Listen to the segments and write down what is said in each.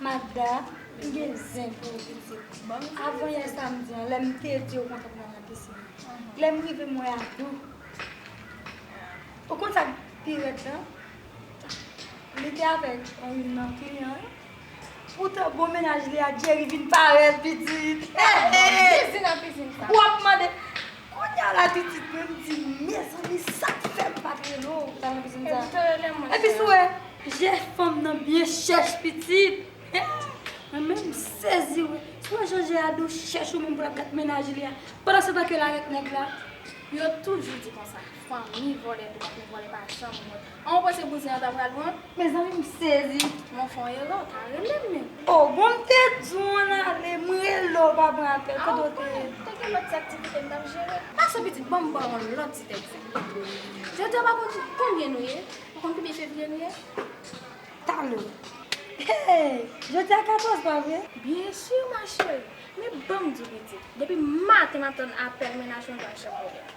Magda, m gen zen pou ou pitit. Avan yè samdi an, lè m te di ou mwen pral nan pisin, lè m rive m wè Adou. Ou konn sa k pi rèd la? Li te avèk youn nan kliyan yo. Poutan bon mennaj li a, Djeri, vin parèt pitit. Ou ap mande. Kounya la titit menm di mezanmi sak fèm pat rele w sa map jwenn sa epi sou wè je fanm nan byen chèch pitit mwen menm m sezi wè sou wè jan je a dou chèch ou menm pou lap gad mennaj li a pandan se tan ke la ret nèg la. Yo toujou di konsa fanmi vòlè dwòg men vòlè pa janm wont. An ou panse bouzen an ta pral pran? Mezanmi m sezi. Mwen fon erè w ta relem men. Oh bon m te di w an ale m rele w pa pran apèl kote w te ye. Te gen lòt ti aktivite m tap jere. Pase pitit banm baw yon lòt ti tèks. Jodi a pa konn konbyen nou ye? Pa konn konbyen fevriye nou ye? Talè. Hey jodi a 14 pa vre? Byen sur ma chérie. Men banm di w pitit depi maten map tann apèl mennaj mwen banm chèk volè.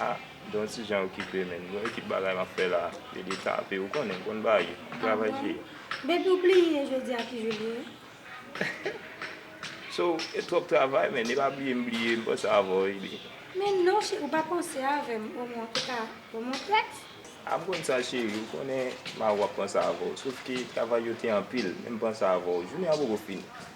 Ah Don ti Jean okipe menn bon ekip bagay map fè la yo de tape ou konnen m konn ba yo m travay sou yo. Depiw pliye jodi a ki jou li ye? So e twòp travay menn e pa bliye m bliye m panse avèw wi. Men non cheri ou pa panse avèm o mwen an touka o mwen prèt. Ah m konn sa cheri ou konnen m avèw ap panse avèw sof ke travay yo te anpil men m panse avèw jounen an poko fini.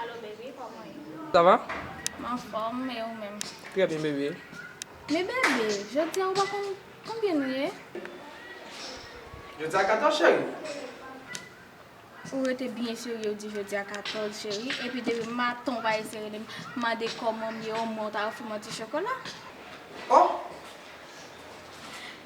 Allo baby kòman ye? Ça va? M anfòm, e ou menm? Trè byen bebe. Men bebe, jodi a ou pa konn konbyen nou ye? Jodi a 14 cheri? Ou rete byen serye ou di jodi a 14 cheri, epi depi maten ou pa eseye rele m mande kòman m ye omwen ou ta ofri m yon ti chokola? Oh!